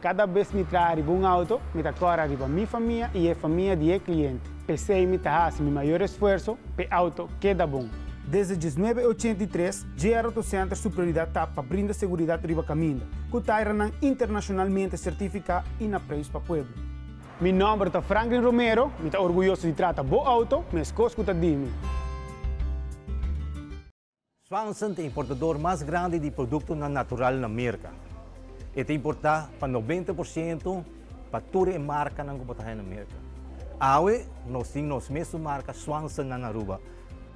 Kada bes mi traha riba un auto, mi ta kora riba mi famia i e famia di e kliente. P'esei mi ta hasi mi mayor esfuerso p'e auto keda bon. Desde diesnuebe e ochenta i tres, Dje Aeroto Center su prioridat ta pa brinda seguridat riba kaminda, ku tairanan internashonalmente sertifiká i na preis pa pueblo. Mi nòmber ta Franklin Romero, mi ta orguyoso di trata bo outo, meskos ku ta di mi. Swanson ta importador mas grandi di produktonan natural na Merka. E ta importá pa noventa por siento pa tur e markanan ku por ta haña na Merka. Awe nos tin nos mes su marka Swanson nan Aruba.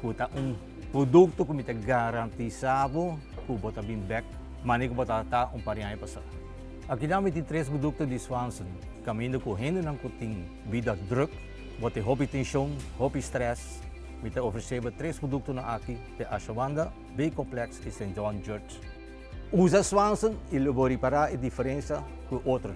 ku ta un produkto ku mi ta garantisá bo ku bo ta bin bèk manera ku bo ta ta un par di aña pasá. Akinan mi tin tres produkto di Swanson, kaminda ku hendenan ku tin bida drùk, bo tin hopi tenshon, hopi strès, mi ta ofresé bo tres produktonan aki te Ashawanda, B-Complex i Saint John Judge. Usa Swanson i lo bo ripará e diferensia ku otro.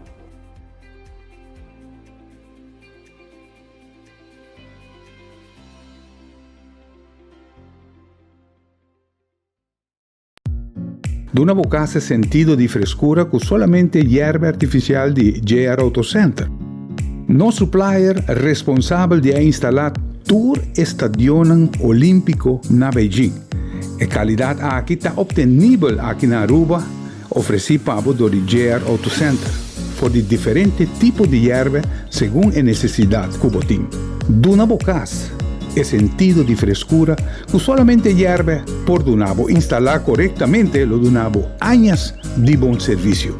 Duna bo cas e sentido di frescura cu solamente yerba artificial di JR Auto Center. Nos supplier responsabel di a instala tur e stadionnan Olimpico na Beijing. E calidad aki ta obtenibel aki na Aruba Ofresí pa bo dor di JR Auto Center for di diferente tipo di yerbe segun e nesesidat ku bo tin. Duna bo kas e sentido di freskura ku solamente yerbe por duna bo. Instalá korektamente lo duna bo añas di bon servisio.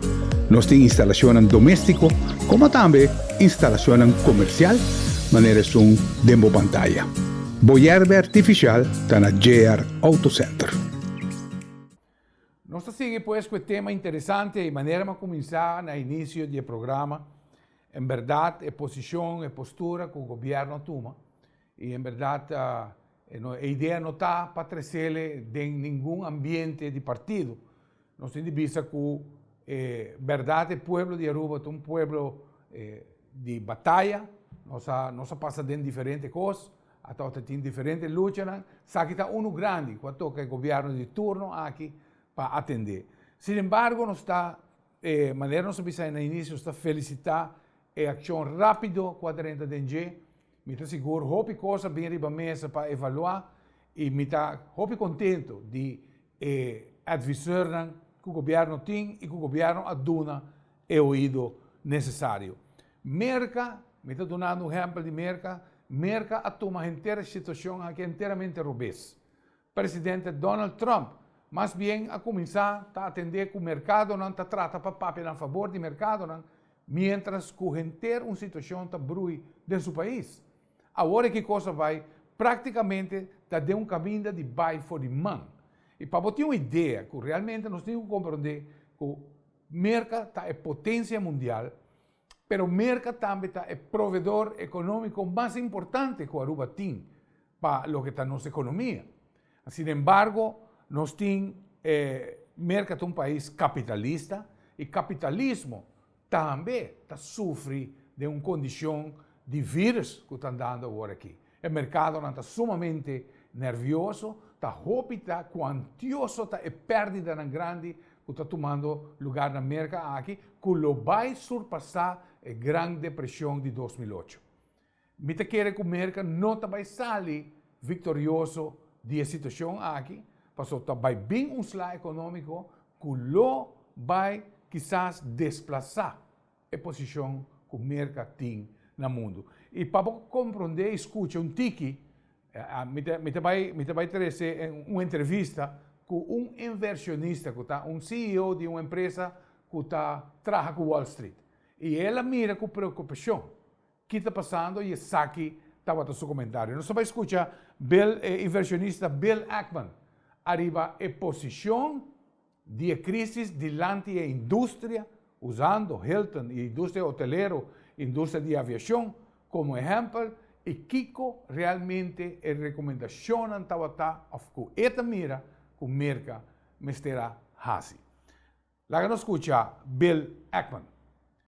Nos tin instalashonnan doméstiko komo tambe instalashonnan komersial manera esun den bo pantaya. Bo yerbe artifishal ta na JR Auto Center. Nos ta sigui pues cu e tema interesante, y manera m'a cuminsa na inicio di e programa, en berdad e posicion, e postura cu Gobierno a tuma, y en berdad e idea no ta pa trecele den ningun ambiente di partido, nos tin di bisa cu e berdad e pueblo di Aruba ta un pueblo di bataya, nos a pasa den diferente cos, Atau ta tin diferente luchanan, saki ta unu grandi ku a toka e gobièrnu di turno aki pa atendé. Sinembargo, nos ta, e manera nos a bisa na inisio, nos ta felisitá e akshon rápido ku a drenta den dje. Mi ta sigur hopi kos a bin riba mesa pa evaluá i mi ta hopi kontentu di. e adviseurnan ku gobièrnu tin i ku gobièrnu a duna e oido nesesario. Merka, mi ta dunando un ehèmpel di Merka, Merka a tuma henter e situashon aki enteramente robes. Presidente Donald Trump mas bien a kuminsá ta atendé ku merkadonan ta trata pa papia nan fabor di merkadonan miéntras ku henter un situashon ta brui den su pais. Awor e Kikosa Bai práktikamente ta den un kaminda di bai for di man. I pa bo tin un idea ku realmente nos tin ku komprondé ku Merka ta e potensia mundial, pero Merka tambe ta e provedor ekonómiko mas importante ku Aruba tin pa loke ta nos ekonomia. Sin embargo, nos tin e Merka ta un pais kapitalista i kapitalismo, tambe ta sufri den un kondishon di vírùs ku ta andando awor aki. E merkadonan ta sumamente nervioso, ta hopi ta kuantioso ta e pérdidanan grandi ku ta tumando lugá na Merka aki ku lo bai surpasá e Gran Depreshon di dos mil ocho. Mi ta kere ku Merka no ta bai sali viktorioso di e situashon aki, pasobra ta bai bin un sla ekonómiko ku lo bai kisas desplasá e posishon ku Merka tin na mundu. I pa bo komprondé i skucha un tiki, mi ta bai, mi ta bai trese un entrevista ku un inversionista ku ta un CEO di un empresa ku ta traha ku Wall Street. I el a mira ku preokupashon Ki ta pasando y esaki tabata su comentario. Nos ta bay scucha Bill e inversionista Bill Ackman ariba e posicion di e crisis dilanti e industria, usando Hilton y industria hotelero, industria di aviacion como ehempel y kico realmente e recomendacionnan tabata of cu e ta mira cu Merca mester a haci. Laga nos scucha Bill Ackman.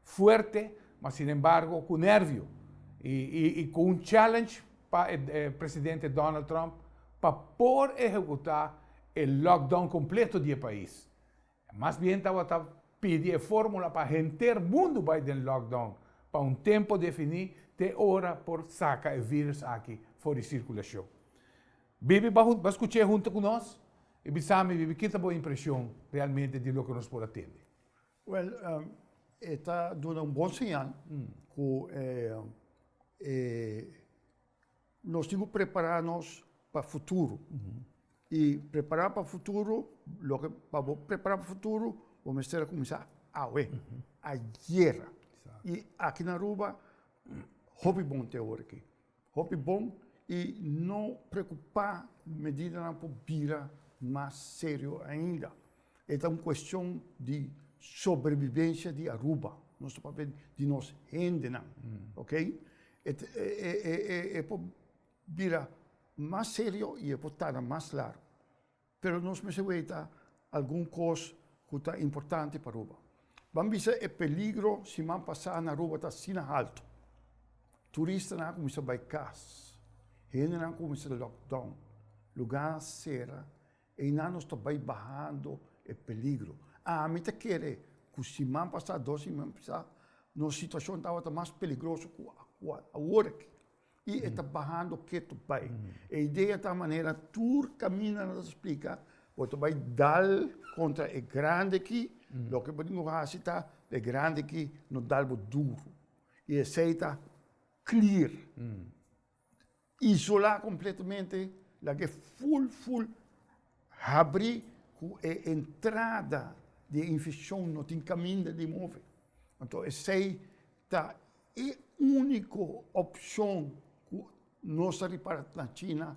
Fuerte, ma sin embargo cu nervio y cu un challenge pa e presidente Donald Trump pa por ehecuta e lockdown completo di e pais. Mas bien tabata pidi e formula pa henter mundo bay den lockdown pa un tempo defini te ora por saca e virus aki for di circulacion. Bibi ba scuche hunto cu nos y bisa mi bibi kita bo impresion realmente di loke nos por a tende. Wel, e ta duna un bon señal cu nos tin cu prepara nos pa futuro. Y prepara pa futuro, loke, pa bo prepara pa futuro bo mester a cuminsa awe, ayer. Y aki na Aruba hopi bon ta e hora aki. Hopi bon i no preokupá ku medidanan por bira mas serio ainda. E ta un kuestion di sobrebibensha di Aruba, nos ta papia di nos hendenan, oke. E por bira mas serio i e por tarda mas largu. Pero nos mester weta algun kos ku ta importante pa Aruba. Ban bisa e peligro siman pasá na Aruba ta asina haltu. Turistanan a kuminsá bai kas, hendenan a kuminsá lockdown, lugá a sera, einan nos ta bai bahando e peligro. Ami ta kere ku siman pasá, dos siman pasá, nos situashon tabata mas peligroso ku awor aki. I e ta bahando ketu bai. E idea ta manera tur kaminda nan ta splika, bo ta bai dal kontra e grandi aki, loke bo tin ku hasi ta e grandi aki no dal bo duru. I esei ta clear, isolá kompletamente, laga e ful ful habri ku e entrada di e infekshon no tin kaminda di move. Anto esei. Ta e úniko opshon ku nos ta ripara na China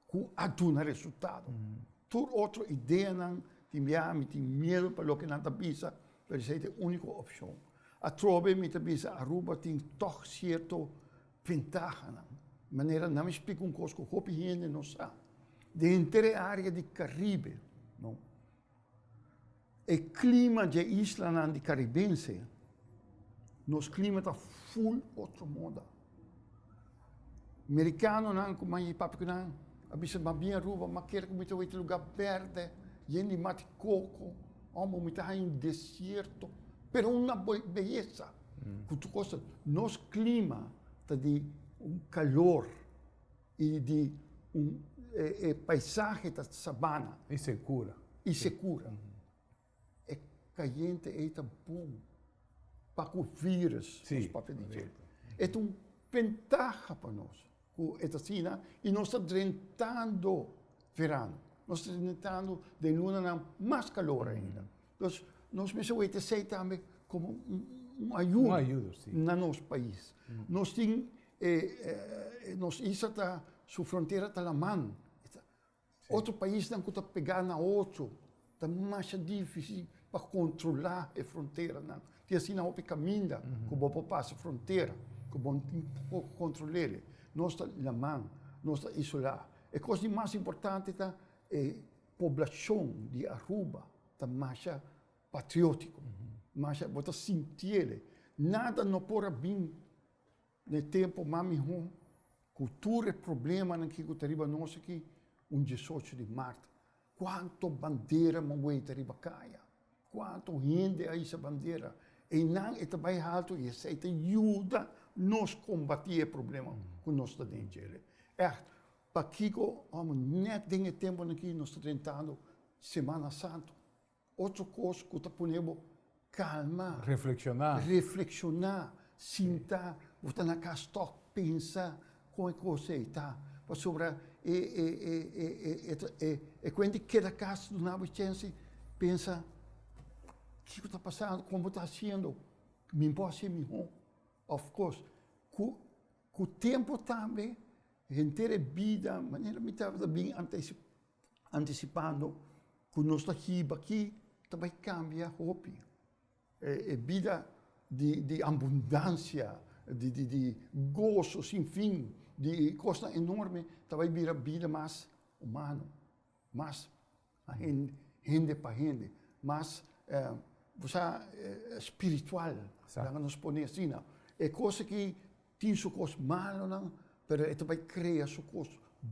ku a duna resultado. Tur otro ideanan di biaha mi tin miedu pa loke nan ta bisa, pero esei ta e úniko opshon. Atrobe mi ta bisa Aruba tin tòg sierto ventahanan, manera nan mi splika un kos ku hopi hende no sa. Den henter e área di Karibe, no. E klima dje islanan di Karibense, nos klima ta ful otro moda. Merikanonan ku mami papikunan a bisa, Mas bien Aruba, mas kere ku mi ta wak te lugá bèrdè, yen di mat i koko, ômber mi ta haña un desierto, pero un beyesa. Ku tur kos ta nos klima ta di un kalor. I di un e paisahe ta sabana. I sekura. I sekura. E kayente ei ta bon pa ku vírùs, nos papia di dje. E ta un bentaha pa nos ku e ta asina i nos ta drentando veran, nos ta drentando den lunanan mas kalor ainda. Entonces, nos mester weten esey tambe como un ayudo. Un ayudo, si. Na nos pais. Nos tin, nos isla ta, su frontera ta laman. Otro paisnan cu ta pega na otro, ta masha difici pa controla e fronteranan. Tin asina hopi caminda cu bo por pasa frontera, cu bo no tin como control'e. Nos ta laman, nos ta isola. E cos di mas importante ta e. Poblashon di Aruba ta masha patriótiko, masha bo ta sintiele nada no por a bin na e tempu mas mihó ku tur e problemanan ki ku ta riba nos aki un diesocho di mart. Kuantu bandera mon weta riba kaya, kuantu hende a hisa bandera. Einan e ta bai haltu i esei ta yuda nos kombatí e problema ku nos ta den djele. Pakico omo net den e temponan aki nos ta drentando Semana Santo? Otro cos cu ta pone bo calma, reflexiona, sinta, bo ta na cas tok pensa con e cos ey ta, pasobra e cuenta di keda cas duna bo e chensi pensa kico ta pasando, con bo ta haciendo, mi bo haci miho, of course cu Ku tempu tambe henter e bida, manera mi tabata bin antisipando ku nos ta hiba aki, ta bai kambia hopi. E bida di ambundansia, di goso sin fin, di kosnan enorme ta bai bira bida mas humano. Mas hende pa hende, mas bo sa spiritual laga nos pone asina. E kos aki tin su kos malonan pero e ta bai krea su kos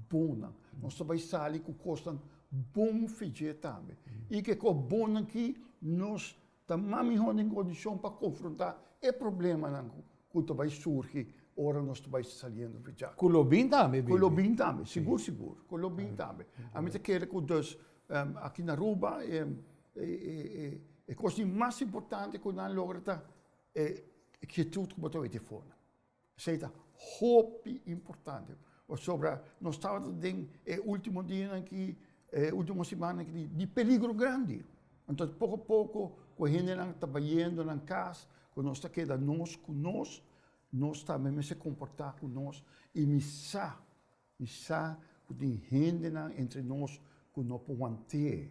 bonnan. Nos ta bai sali ku kosnan bon fijié tambe. I ke kos bonnan ki nos Ta mas mihó den kondishon pa konfrontá e problemanan ku ta bai surgi ora nos ta bai saliendo di djak. Ku lo bin tambe, baby. Ku lo bin tambe, sigur sigur, ku lo bin tambe. Ami ta kere ku dus aki na Aruba e kos di mas importante ku nan logra ta e kietud ku bo ta wete for nan. Esei ta hopi importante pasobra nos tabata den e ultimo dianan ki, e ultimo simannan ki di peligro grandi. Anto poko a poko ku e hendenan ta bayendo nan kas, ku nos ta keda nos ku nos, nos tambe mester komportá ku nos i mi sa. Mi sa cu tin hendenan entre nos cu no por want'é.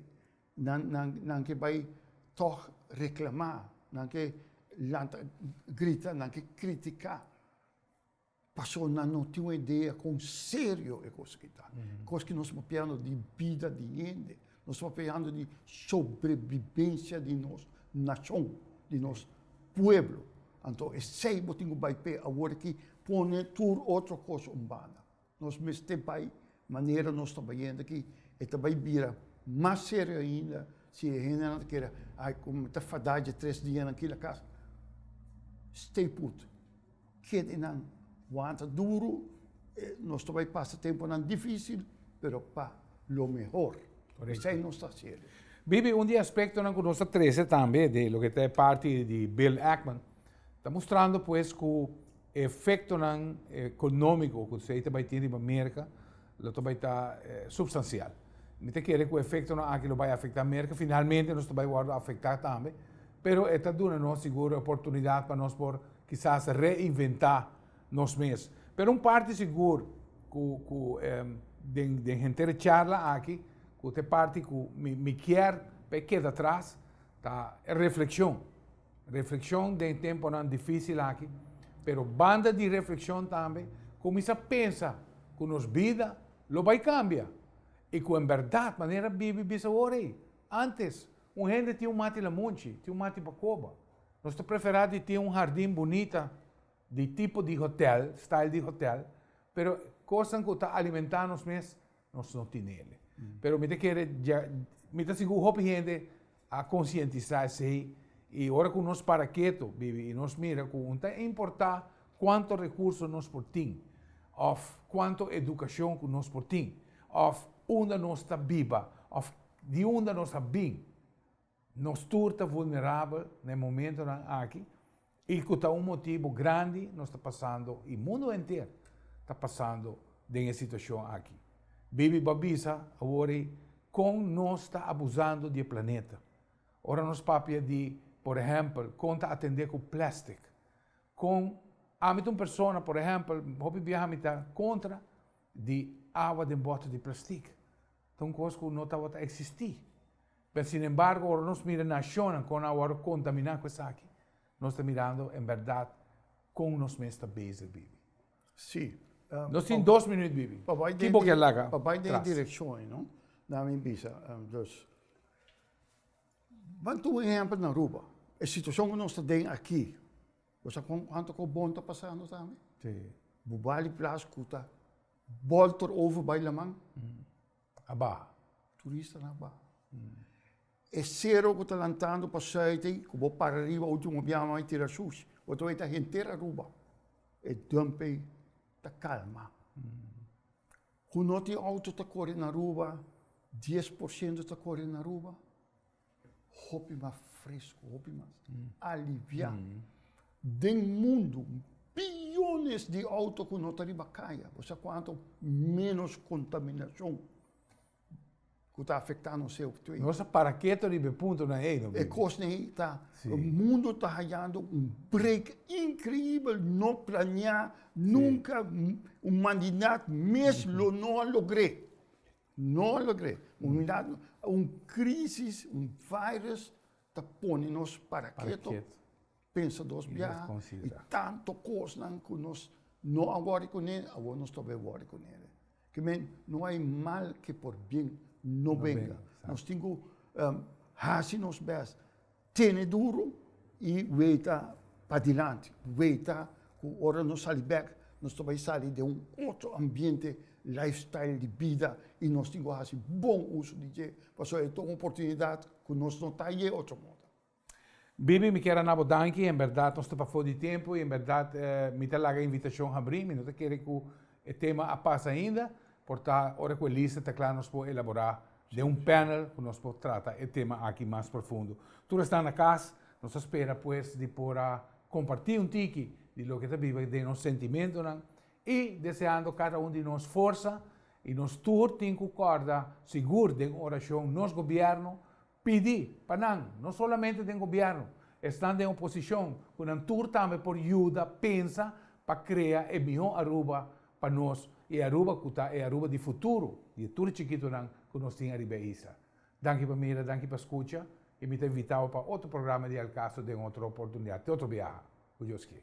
Nan, nan, nan ke bai tog reclamá, nan ke lanta grita, nan ke criticá. Pasobra nan no tin un idea con serio e cos aki ta. Cos ki nos papia no di bida di hende. Nos ta peleando di sobrebibensia di nos nashon, di nos pueblo. Anto esei bo tin ku bai p'e awor aki, pone tur otro kos un banda. Nos mester bai manera nos ta bayendo aki, e ta bai bira mas serio ainda si e hendenan ta kere, ai, komo mi ta fadá dje tres dianan aki lakas. Stay put. Kedenan wanta duru, nos ta bai pasa temponan dificil, pero pa lo mehor. Esei nos ta haci awe. Bibi, un di e aspectonan cu nos ta trece tambe di loke ta e parti di Bill Ackman, ta mustrando pues cu e efectonan economico cu esei ta bai tin riba Merca, Lo ta bai ta supstansial. Mi ta kere ku efektonan aki lo bai afektá Merka. Finalmente nos ta bai wòrdu afektá tambe, pero e ta duna nos sigur e oportunidat pa nos por kisas reinventá nos mes. Pero un parti sigur ku ku den den henter e charla aki ku ta e parti ku mi mi kier pa e keda atras ta e reflekshon. Reflekshon den e temponan difísil aki, pero banda di reflekshon tambe kuminsá pensa ku nos bida lo bai kambia i ku en bèrdat manera bibi bisa awor ei. Ántes, un hende tin un mati lamunchi, tin un mati pa koba. Nos ta preferá di tin un hardin bunita di tipo di hotèl, style di hotèl, pero kosnan ku ta alimentá nos mes Nos no tin el. Pero mi ta kere dja, mi ta sigur hopi hende a konsientisá esei, i ora ku nos para ketu, bibi, i nos mira ku no ta importá kuantu rekurso nos por tin, òf kuantu edukashon ku nos por tin, òf unda nos ta biba, òf di unda nos a bin, Nos tur ta vulnerabel na e momentonan aki i ku ta un motibu grandi nos ta pasando i mundu henter ta pasando den e situashon aki. Bibi bo a bisa awor ei kon nos ta abusando di e planeta. Ora nos papia di, por ehèmpel, kon ta atendé ku plèstik, kon ami ta un persona, por ehèmpel, hopi biaha mi ta kontra di awa den bòtel di plastik. Ta un kos ku no tabata eksistí. Pero sin embargo ora nos mira nacionnan con a wòrdu contamina cu esaki, nos ta mirando en berdad con nos mes ta bezig bibi. Sí. Nos tin dos minuut bibi. Pa bai den e direccion. Pa bai den e direccion ei no, nan mi bisa dus. Ban tuma un ehempel na Aruba. E situacion cu nos ta den aki, bo sa con cuanto cu bon ta pasando tambe? Sí. Bo bali plas cu ta bolter over bai laman. A baha. Turistanan a baha. E sero ku ta lantando pa site ei, ku bo para riba ultimo biaha no hay tira shushi. Bo ta wet ta henter Aruba. E dump ei ta kalma. Ku no tin outo ta kore na Aruba, dies por shento ta kore na Aruba. hopi mas fresco, hopi mas alivia. Den mundo, billones di auto cu no ta riba caya, bo sa cuanto menos contaminacion cu ta afecta nos CO two. Nos a para keto riba e punto nan ey. E cosnan ey ta, mundo ta hayando un break increibel, no planea, nunca, humanidad mes lo no a logr'e. No lo cree. Un crisis, un virus ta pone nos para keto, pensa dos biaha y tanto cosnan cu nos no a worry cu ne, awor nos ta bay worry cu ne. Ke men, no hay mal ke por bien no benga. Nos tin cu haci nos best. Tene duru y weta padilanti, weta cu ora nos sali bek nos ta bay sali den un otro ambiente, life style di bida y nos tin cu haci bon uso di dje pasobra e ta un oportunidad cu nos no ta aye otro moda. Bibi mi kier a nabo danki, en berdad nos ta pafo di tempo y en berdad mi ta laga invitacion habri, mi no ta kere cu E tema a pasa ainda, por ta ora cu e lista ta cla nos por elabora den un panel cu nos por trata e tema aki mas profundo. Tur esnan na cas, nos ta spera pues di por a comparti un tiki di loke ta biba den nos sentimentonan y deseando cada un di nos forsa y nos tur tin cu corda sigur den oracion nos gobierno Pidi pa nan, no solamente den gobièrnu, esnan den oposishon ku nan tur tambe por yuda pensa pa krea e mihó Aruba pa nos i e Aruba ku ta e Aruba di futuro di e tur chikitunan ku nos tin ariba e isla. Danki pa mira, danki pa skucha i mi ta invitabo pa otro programa di El Caso den otro oportunidat, te otro biaha, ku Dios kier.